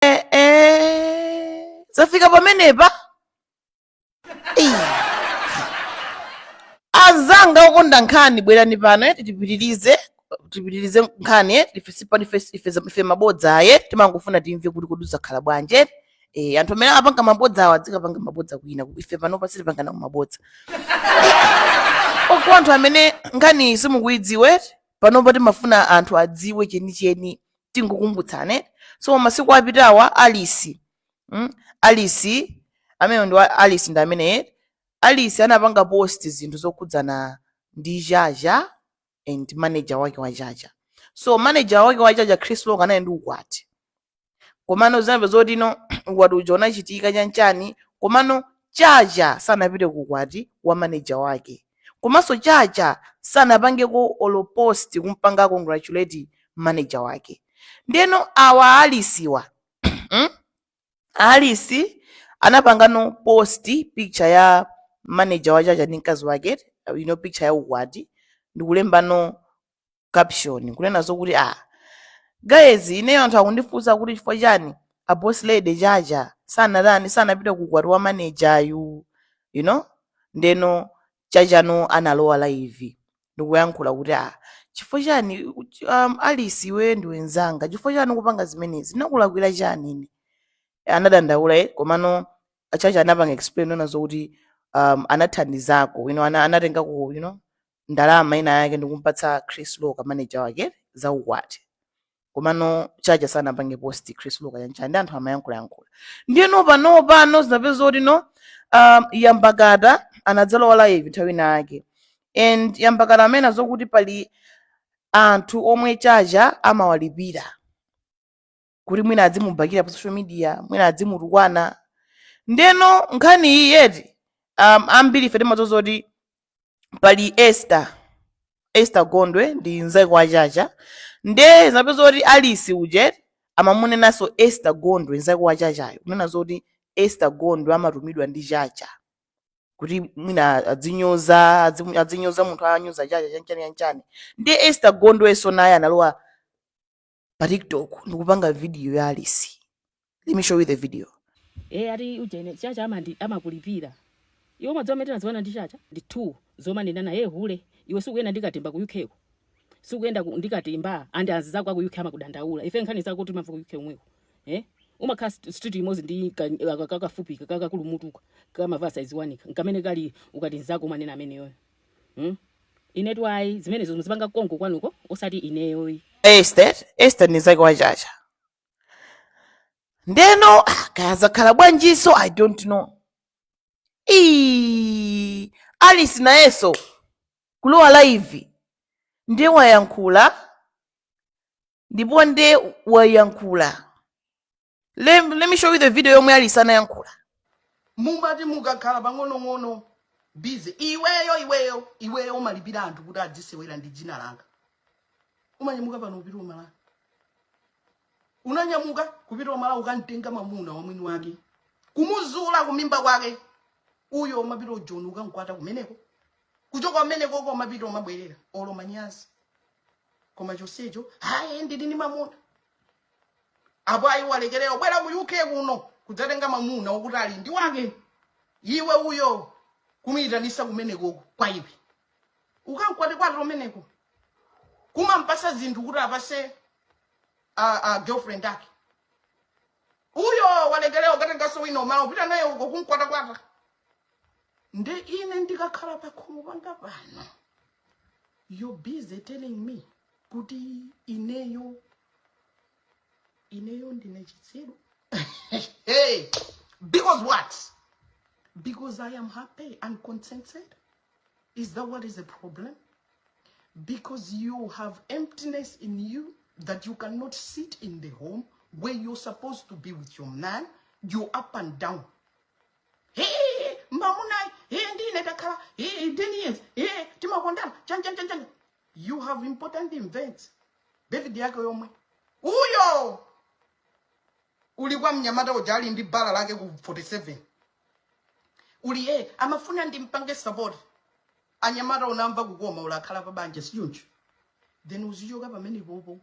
eh, eh. zafika pamenepa Ei. azanga okonda nkhani bwerani pano eh, tipitirize tipitirize nkhani eh, ife sipani ife ife za- ife mabodza aye timangofuna timve kuti kodi zakhala bwanji eh. eh, anthu amene apanga mabodza awa adzikapanga mabodza kwina ife panopa sitipangana mabodza oko anthu amene nkhani simukuidziwe panopa timafuna anthu adziwe chenicheni tingokumbutsane eti so mmasiku apitawa alice mm? alice amene ndi wa- alice ndi amene eti alice anapanga post zinthu zokhudzana ndi chacha and manager wake wa chacha so manager wake wa chacha chris loka anali ndi ukwati komano zinamve zoti no ukwati uja unachitika chanchani komano chacha sanapite ku ukwati wa manager wake komanso chacha sanapangeko olo post kumpanga congratulate manager wake ndeno awa a Alisiwa mm? a Alisi anapangano post picture ya manager wa chacha ndi mkazi wake you know picture ya ukwati ndikulembano caption kunena zokuti ah guys ineyo anthu akundifunsa kuti chifukwa chani a boss lady chacha sanatani sanapite ku ukwati wa manager wawo you know ndeno chachano analowa live ndikuyankhula kuti ah chifukwa chani um, alisi iweyo ndiwe nzanga chifukwa chani ukupanga zimenezi ndakulakwira chani ine anadandaula eh, komano achacha anapanga explain kunena zokuti um, anathandizako you know, ana, anatengako you know, ndalama ina yake ndikumpatsa Chris Loka manager wake za ukwati komano chacha sanapange post Chris Loka chanchani ndi anthu amayankhula yankhula ndiyeno pano pano zinapezeka kuti no um, yambakata anadzalowa live nthawi ina yake and yambakata amanena zokuti pali anthu omwe chacha amawalipira kuti mwina adzimubakira pa social media mwina adzimutukwana ndeno nkhani iyiyi eti um, ambiri ife timadziwa kuti pali esther esther gondwe ndi nzake wa chacha nde zinapezeka kuti alice uja eti amamunenanso esther gondwe nzake wa chachayo kunena zoti esther gondwe amatumidwa ndi chacha kuti mwina adzinyoza adzimu- adzinyoza munthu anyoza chacha chanchani chanchani ndi esther gondwenso naye analowa pa tiktok ndikupanga video ya alisi let me show you the video e ati ujene chacha amandi amakulipira iwe mwadzi wamene ndinaziwana ndi chacha ndi two zomwe ndili naye hule iwe sikuyenda ndikatimba ku uk ko sikuyenda ku- ndikatimba and anzizako aku uk amakudandaula ife nkhani zako timamva ku uk umweko eh umakhala st- street imodzi ndi ka- aka- kakafupika kakakulu mutu kamavasa iziwanika nkamene kali ukati nzako umanena ameneyoyo Hmm? Inetu ayi, zimenezo muzipanga konko kwanuko osati ineyoyi. Esther, Esther ni nzake wa Chacha. Ndeno ah, kaya zakhala bwanjinso I don't know. Ii, Alice nayeso kulowa live nde wayankhula ndipo nde wayankhula Let, let me show you the video yomwe Alice anayankhula. mumati mukakhala pang'onong'ono busy iweyo iweyo iweyo umalipira anthu kuti adzisewera ndi dzina langa umanyamuka pano kupita uMalawi unanyamuka kupita uMalawi ukamtenga mamuna wamwini wake kumuzula kumimba kwake uyo umapita uJoni ukamkwata kumeneko kuchoka kumeneko uko umapita umabwerera olo manyazi koma chonsecho hayi ndili ndi mamuna apo ayi walekerera ubwera ku UK kuno kudzatenga mamuna wokuti ali ndi wake iwe uyo kumuitanisa kumenekoko kwa iwe ukamkwatekwate kumeneko kumampasa zinthu kuti apase a, a girlfriend ake uyo walekerera ukatengaso wina umala upita naye uko kumkwatakwata nde ine ndikakhala pakhomo panga pano you're busy telling me kuti ineyo ineyo ndine chitsiru hey, because what because i am happy and contented is that what is the problem because you have emptiness in you that you cannot sit in the home where you're supposed to be with your man you're up and down mamunayi ndi ine takhala 10 years timakondana chanchanchanchan you have important events David yake yomwe uyo uli kwa mnyamata uja ali ndi bala lake ku 47 uli eh amafuna ndimpange support anyamata unamva kukoma ulakhala pa banja sichoncho then uzichoka pamenepopo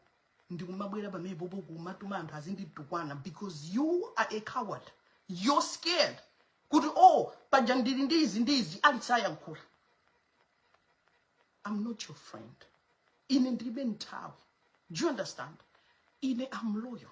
ndikumabwera pamenepopo kumatuma anthu azinditukwana because you are a coward you're scared kuti oh paja ndili ndi izi ndi izi Alice ayankhula i'm not your friend ine ndilibe nthawi do you understand ine am loyal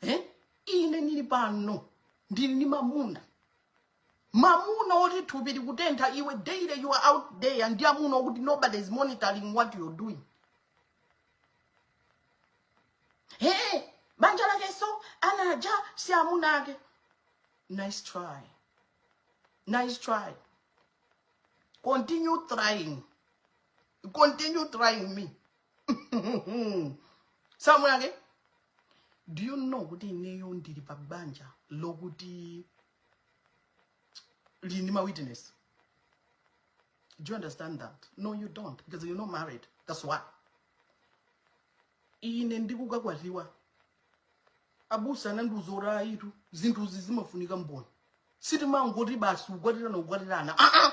eh? ine ndili pano ndili ndi mamuna mamuna oti thupi likutentha iwe daily you are out there ndi amuna okuti nobody is monitoring what you're doing hey, banja lake so anaja si amuna ake nice try nice try continue trying continue trying me si amuna ake do you know kuti ineyo ndili pa banja lokuti lili ndi mawitness do you understand that no you don't because you're not married that's why ine ndikukakwatiwa abusa anandiuza kuti ayitu zinthuzi zimafunika mboni sitimangoti basi ukwatirana ukwatirana aa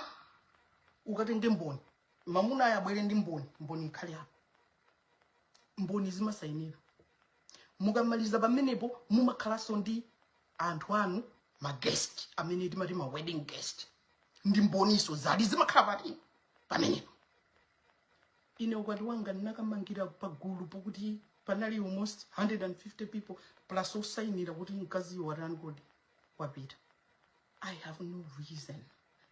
ukatenge mboni mamunayo abwere ndi mboni mboni ikhale apo mboni zimasayinira mukamaliza pamenepo mumakhalanso ndi anthu anu ma guest amene timati ma wedding guest ndi mbonizo zili zimakhala pati pamenepo ine ukwati wanga ndinakamangira pagulu pokuti panali almost 150 people plus osayinira kuti mkazi watani kodi wapita i have no reason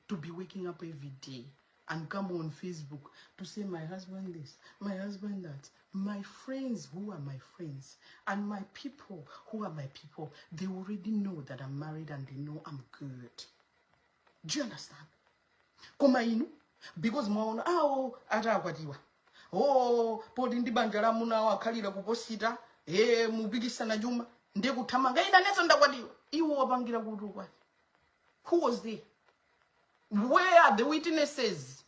to be waking up every day and come on Facebook to say my husband this, my husband that. My friends who are my friends and my people who are my people, they already know that I'm married and they know I'm good. Do you understand? Koma inu, because mwaona awo ah, oh, atakwatiwa. Oh, poti ndi banja la muna wakhalira kuposita, eh mupikisana chuma, ndiye kuthamanga ina nezo ndakwatiwa. Iwo wapangira kutukwa. who was there where are the witnesses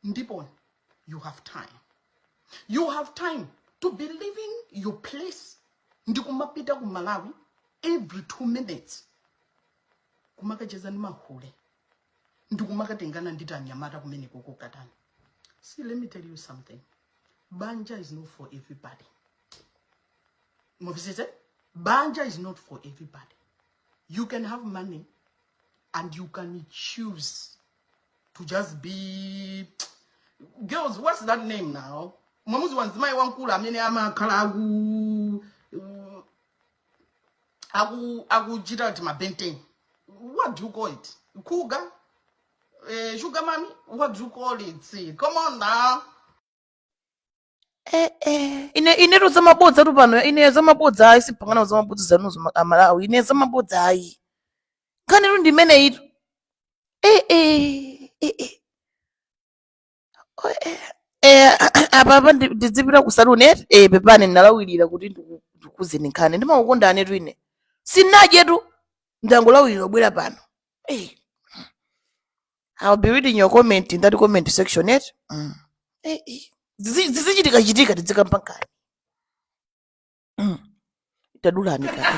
ndipo you have time you have time to be leaving your place ndikumapita ku malawi every two minutes kumakacheza ndi mahule ndikumakatengana ndi tianyamata kumeneko kukatani see let me tell you something banja is not for everybody mumvetsetse banja is not for everybody you can have money and you can choose to just be girls what's that name now mwamuzi wa mzimayi wamkulu amene amakhala aku uh, aku akuchita kuti mabenten what do you call it kuga eh, sugar mami what do you call it come on now eh, eh. ine ine tu zamabodza tu pano ine zamabodza ayi sindipanga nawo zamabodza zanuzo ma- amalawi ine zamabodza ayi nkhani tu ndi imeneyi tu eh, eh, eh, eh. Oh, eh. Eh, apa apa ndi- ndidzipita ku saluni eti eh, pepani ndalawirira kuti ndiku- ndikuuzeni nkhani ndimakukondani tu ine sindinadye tu ndangolawirira kubwera pano eh. I'll be reading your comment in that comment section yet. Mm. Eh, eh. Zizi- Zizichitika chitika tidzikamba nkani. Mm. Tadulani kani.